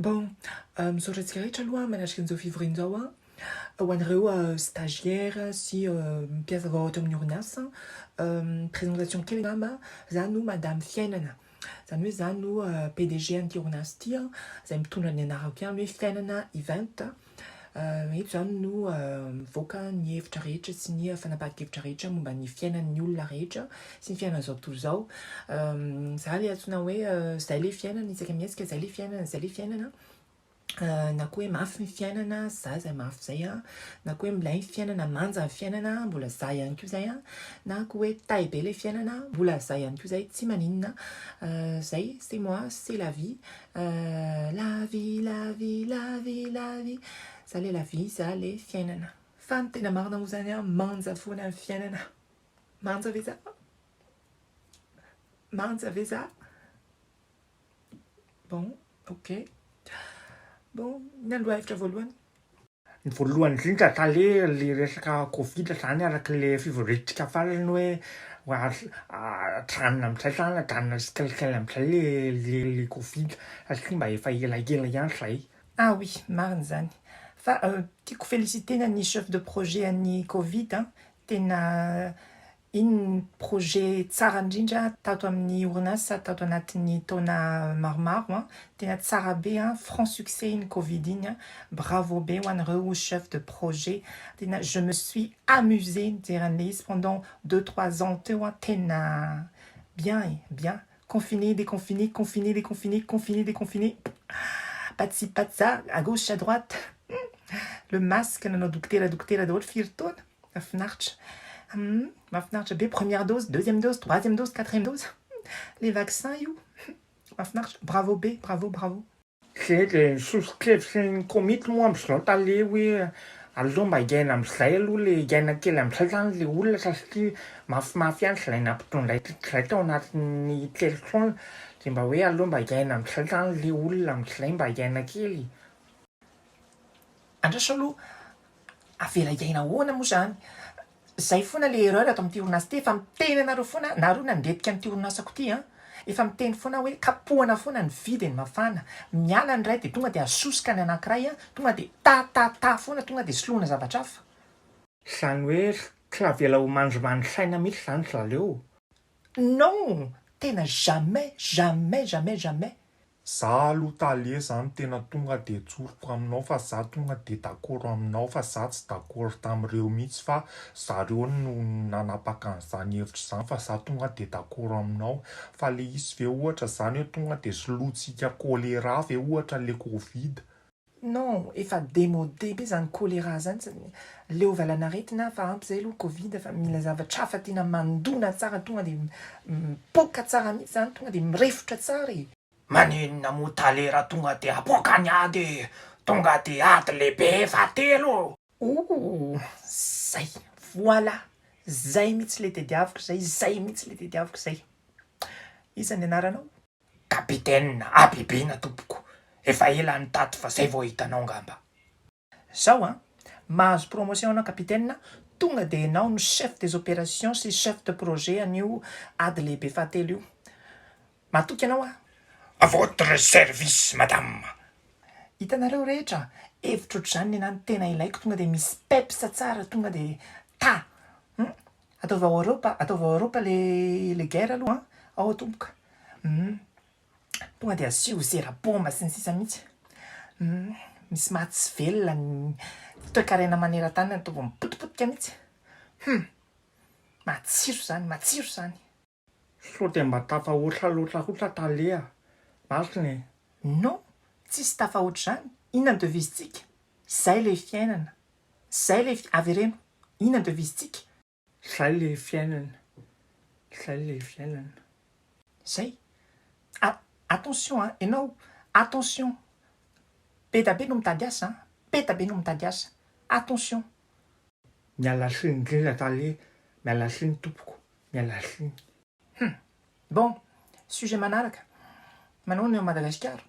Bon, misaotra antsika rehetra aloha manatrika an'izao fivoriana izao an, ho anareo stagiaire sy mpiasa vao ato amin'ny orinasa, présentation kely angamba, za no Madame Fiainana, zany hoe za no PDG an'ity orinasa ity an, zay mitondra ny anarako ihany hoe Fiainana Event an, Eto izany no mivoaka ny hevitra rehetra sy ny fanapahan-kevitra rehetra momba ny fiainan'ny olona rehetra sy ny fiainan'izao tontolo izao. Izaho ilay antsoina hoe izay ilay fiainana, isaka mihetsika izay ilay fiainana, izay ilay fiainana na koa hoe mafy ny fiainana, za izay mafy izay an, na koa hoe milay ny fiainana, manja ny fiainana, mbola za ihany koa izay an, na koa hoe tay be ilay fiainana, mbola za ihany koa izay, tsy maninona, izay c'est moi, c'est la vie, Euh, la vie, la vie, la vie, la vie Za le la vie, za le fiainana Fa ny tena marina moa zany an, manja foana ny fiainana Manja ve za? Manja ve za? Bon, ok Bon, ny andro hevitra voalohany Ny voalohany indrindra tale le resaka covid zany araka le fivoriantsika farany hoe ajanona amizay zany ajanona tsikelikely amizay le le le covid satria mba efa elaela ihany zay. Ah oui, marina izany. Fa tiako feliciter-na ny chef de projet an'ny covid an, tena Iny ny projet tsara indrindra tato amin'ny orinasa tato anatin'ny taona maromaro an! Tena tsara be an! Franc succès iny covid iny an! Bravo be ho anareo chef de projet! Tena je me suis amusée nijery an'ilay izy pendant deux trois ans teo an! Tena bien e! Bien! Confiné, déconfiné, confiné, déconfiné, confiné, déconfiné, patsy patsa, à gauche à droite, le masque nanao dokotera dokotera daholo firy taona! Mahafinaritra. Humm mahafinaritra be première dose, deuxième dose, troisième dose, quatrième dose le vaccin io mahafinaritra bravo be bravo bravo. Zay le sosokevitry ny komity moa amzao tale hoe aleo mba hiaina amzay aloha le hiaina kely amzay zany le olona satria mafimafy ihany zay nampitondray zay tao anatin'ny telo taona de mba hoe aleo mba hiaina amzay zany le olona amzay mba hiaina kely e. Andraso aloha, avela hiaina ahoana moa zany? Zay foana le erreur ato amin'ity orinasa ity, efa miteny anareo foana, nareo nandretika an'ity orinasako ity an! efa miteny foana aho hoe kapohana foana ny vy dia ny mafana, miala ny iray dia tonga dia asosoka ny anankiray an! tonga dia ta ta ta foana, tonga dia soloina zavatra hafa. Zany hoe tsy avela ho mandrimandry saina mihitsy zany ry zaleo. Non! Tena jamais, jamais, jamais, jamais! Za aloha tale zany tena tonga de tsoriko aminao fa za tonga de dakoro aminao fa za tsy dakoro tamireo mitsy fa zareo no nanapaka anzany hevitra zany fa za tonga de dakoro aminao fa le izy ve ohatra zany hoe tonga de solointsika choléra ve ohatra le covid Non, efa demode be zany choléra zany, leo valanaretina hafa ampy zay aloha covid fa mila zavatra hafa tiana mandona tsara tonga dia mipoaka tsara mihitsy zany tonga dia mirefotra tsara e. Maninona moa talera tonga dia apoaka ny ady e! Tonga dia ady lehibe fahatelo! Ooh! Zay! Voilà! Zay mihitsy le tediaviko zay, zay mihitsy le tediaviko zay! Iza ny anaranao? Capitaine, habibiana tompoko, efa ela any tato fa zay vao hitanao ngamba. Zao an, mahazo promotion anao capitaine a, tonga dia enao no chef des operations sy chef de projet an'io ady lehibe fahatelo io. Matoky anao aho. A votre service madame. Hitanareo rehetra, hevitra otr'izany ny anah no tena ilaiko tonga dia misy peps tsara tonga dia ta. Hum. Ataovy ao Europa, ataovy ao Europa le le guerre aloha an! Ao tompoka humm tonga dia asio zera bomba sy ny sisa mihitsy humm misy maha tsy velona ny toekarena maneran-tany ataovy mipotipotika mihitsy humm matsiro zany matsiro zany. Sao dia mba tafahoatra loatra kosa tale a! Marina e! Non! Tsisy tafahoatra izany! Inona ny devisentsika? Izay ilay fiainana! Izay ilay fi-, avereno! Inona ny devisentsika? Izay ilay fiainana! Izay ilay fiainana! Izay! A, attention a! Ianao, attention! Be da be no mitady asa an! Be da be no mitady asa! Attention! Miala siny indrindra tale miala siny tompoko miala siny. Hum. Bon, sujet manaraka, manao ny ao Madagasikara?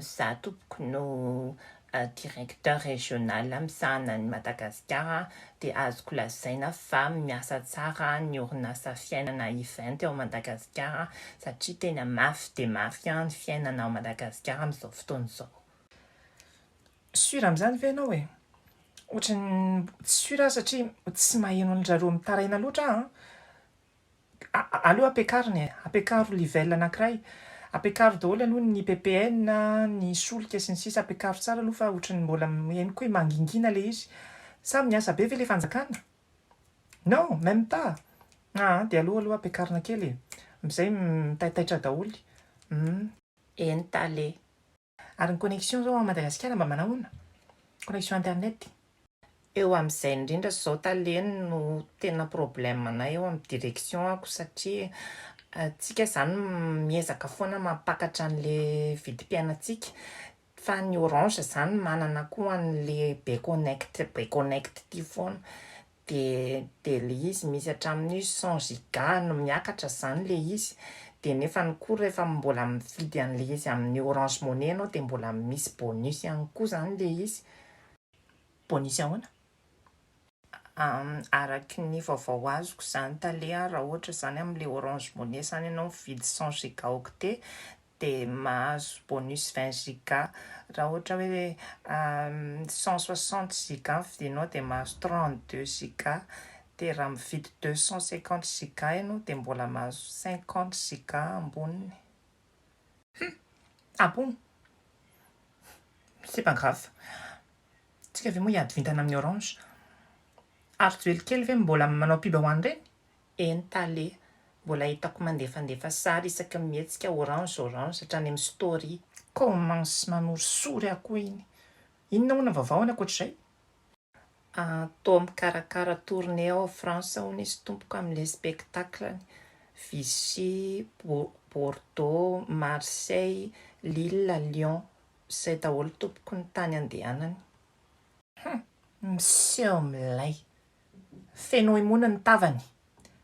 Za tompoko no directeur régional misahana an'i Madagasikara dia azoko lazaina fa miasa tsara ny orinasa fiainana event ao Madagasikara satria tena mafy dia mafy ny fiainana ao Madagasikara amin'izao fotoana izao. Sur amin'izany ve ianao e? Ohatran'ny tsy sur aho satria tsy maheno an-dry zareo mitaraina loatra aho a! aleo ampiakarina e! ampiakaro livelle anankiray, ampiakaro daholo aloha ny ppn a, ny solika sy ny sisa ampiakaro tsara aloha fa ohatran'ny mbola henoko hoe mangingina ilay izy. Sa miasa be ve ilay fanjakana? Non! Même pas! aa! dia aleo aloha ampiakarina kely e! amin'izay mitaitaitra daholo. Humm. Eny tale. Ary ny connexion zao ao Madagasikara mba manao ahoana? Connexion internet? Eo amin'izay indrindra izao tale no tena problème anay eo amin'ny direction ako satria tsika izany miezaka foana mampakatra an'le vidim-piainantsika fa ny orange izany manana koa an'le be connect be connect ity foana dia dia le izy misy hatramin'ny cent giga no miakatra zany le izy dia nefany koa rehefa mbola mividy an'le izy amin'ny orange money ianao dia mbola misy bonus ihany koa zany le izy. Bonus ahoana? araky ny vaovao azoko zany tale raha ohatra zany amle orange money zany ianao mividy cent giga octet dia mahazo bonus vingt giga, raha ohatra hoe cent soixante giga no vidinao dia mahazo trente deux giga, dia raha mividy deux cent cinquante giga ianao dia mbola mahazo cinquante giga amboniny. Hum! Ah bon! C'est pas grave. Tsika ve moa hiady vintana amin'ny orange? Ary joelikeely ve mbola manao pub ho an'ireny? Eny Tale, mbola hitako mandefandefa sary isaky ny mihetsika orange orange hatrany amin'ny story. Commence manorisory aho koa iny. Inona hono ny vaovao any ankoatr'izay? Ahh toa mikarakara tournée ao France hono izy tompoko amin'ilay spectacle-ny. Vichy, Bordeaux, Marseille, Lille, Lyon. Izay daholo tompoko ny tany andehanany. Hum! Miseho milay. Feno imony ny tavany.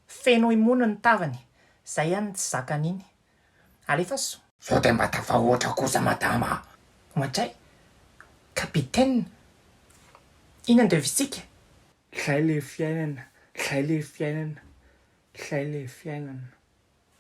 Feno imony ny tavany. Zay any ny tsy zakany iny. Alefaso. Sao dia mba tafahoatra kosa madama a! Ohatray, capitaine, inona ny devisika? Zay le fiainana, zay le fiainana, zay le fiainana.